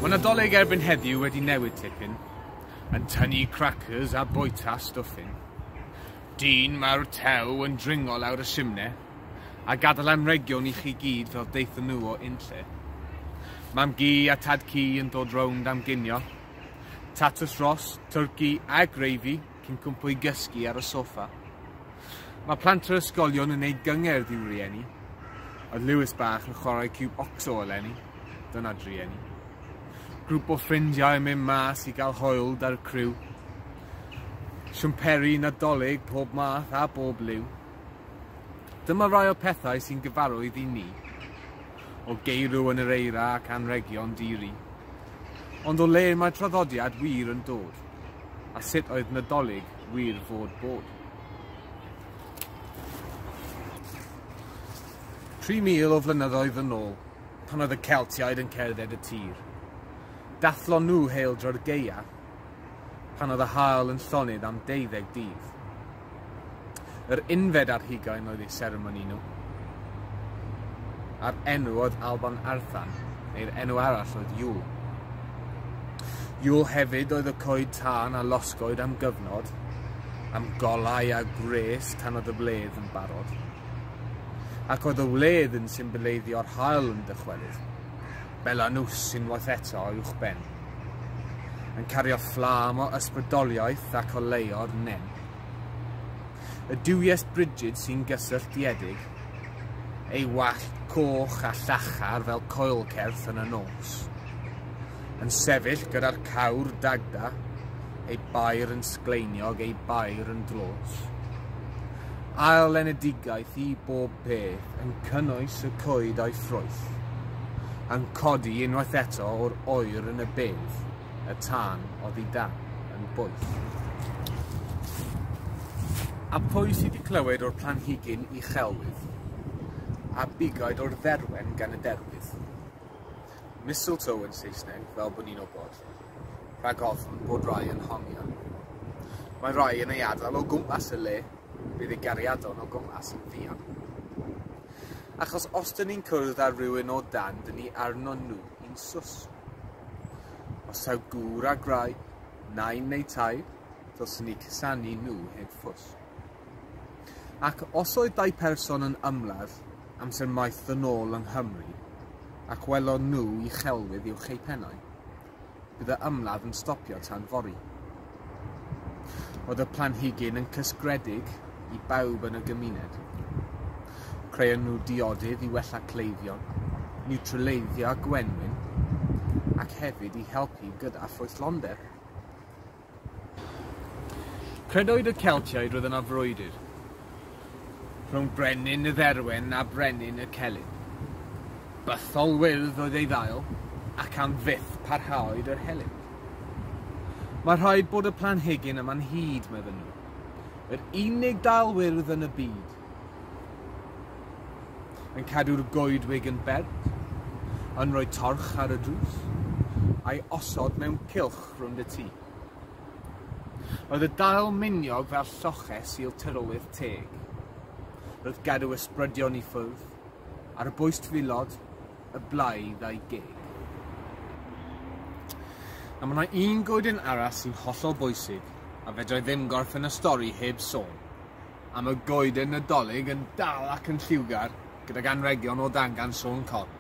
Mae Nadolig erbyn heddiw wedi newid tipyn, yn tynnu crackers a boita stwffyn. Dyn mae'r tew yn dringo lawr y simne, a gadael am region i chi gyd fel deithon nhw o unlle. Mam gi a tad ci yn dod rownd am ginio, Tatws Ross, twrci a gravy cyn cwmpo i gysgu ar y soffa. Mae plant yr ysgolion yn neud gyngerdd i'w rieni. Oedd Lewis bach yn chwarae cub ocso eleni. Dyna drieni. Grŵp o ffrindiau yn mynd mas i gael hoel da'r criw. Siwmperi, Nadolig, pob math a bob liw. Dyma rai o'r pethau sy'n gyfarwydd i ni, o geirw yn yr eira ac anrhegion di-ri. Ond o le mae traddodiad wir yn dod, a sut oedd Nadolig wir fod bod? 3,000 o flynyddoedd yn ôl, pan oedd y Celtiaid yn cerdded y tir, dathlon nhw heildro'r gaeaf pan oedd y haul yn llonydd am deuddeg dydd. Yr unfed ar hugain oedd eu seremoni nhw, a'r enw oedd Alban Arthan, neu'r enw arall oedd Yule. Yule hefyd oedd y coed tân a losgoed am gyfnod, am golau a gwres tan oedd y wledd yn barod. Ac oedd y wledd yn symboleiddio'r hael yn dychwelyd. Belanus unwaith eto o uwchben, yn cario fflam o ysbrydoliaeth ac o leo'r nen. Y duwies brigid sy'n gysylltiedig, ei wallt coch a llachar fel coelcerth yn y nos, yn sefyll gyda'r cawr dagda, ei bair yn sgleiniog, ei bair yn dlos. Ail enedigaeth i bob peth. yn cynnwys y coed a'i ffrwyth, yn codi unwaith eto o'r oer yn y bedd, y tân oddi dan, yn boeth. A pwy sydd wedi clywed o'r planhigyn i chelwydd, a bugaid o'r dderwen gan y derwydd? Mistletoe yn Saesneg, fel bod ni'n obod. rhag ofn bod rai yn honio. Mae rai yn ei adael o gwmpas y le, bydd ei gariadon o gwmpas yn ddion. Achos os dyn ni'n cwrdd ar rywun o dan, dyn ni arno nhw i'n sws. Os taw gŵr a graig, nain neu taid, dylsyn ni cusanu nhw heb ffws. Ac os oedd dau person yn ymladd amser maith ddyn nôl yng Nghymru, ac welon nhw uchelwydd uwch eu pennau, bydd y ymladd yn stopio tan fory. Oedd y planhigyn yn cysgredig i bawb yn y gymuned. Creon nhw diodydd i wella cleifion, niwtraleiddio gwenwyn, ac hefyd i helpu gyda ffrwythlondeb. Credwyd y Celtiaid roedd yna frwydr rhwng brenin y Dderwen a brenin y Celyn. Bythol wyrdd oedd ei ddail, ac am fyth parhaoed yr helynt. Mae rhaid bod y planhigyn yma'n hud, meddyn nhw. Yr unig dail wyrdd yn y byd. Yn cadw'r goedwig yn berth, yn rhoi torch ar y drws, a'i osod mewn cylch siop rownd y tŷ. Oedd y dail miniog fel lloches i'l tyrowydd teg. Roedd gadw ysbrydion i ffwrdd, ar y bwys twylod y blaidd a'i geg. A mae yna un goeden arall sy'n hollol bwysig a fedrai ddim gorffen y stori heb sôn. a mae goeden Nadolig yn dal ac yn lliwgar gydag anrhegion o dangan Siôn Corn.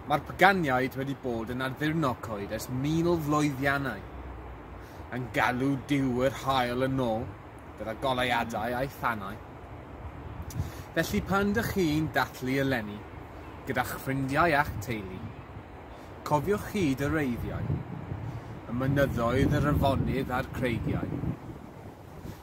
Mae'r paganiaid wedi bod yn addurno coed ers mil flwyddiannau, yn galw Duw yr Haul yn ôl gyda goleuadau a'i thanau. Felly pan dych chi'n dathlu eleni gyda'ch ffrindiau a'ch teulu, cofiwch hyd yr eiddiau, y mynyddoedd, yr afonydd a'r creigiau.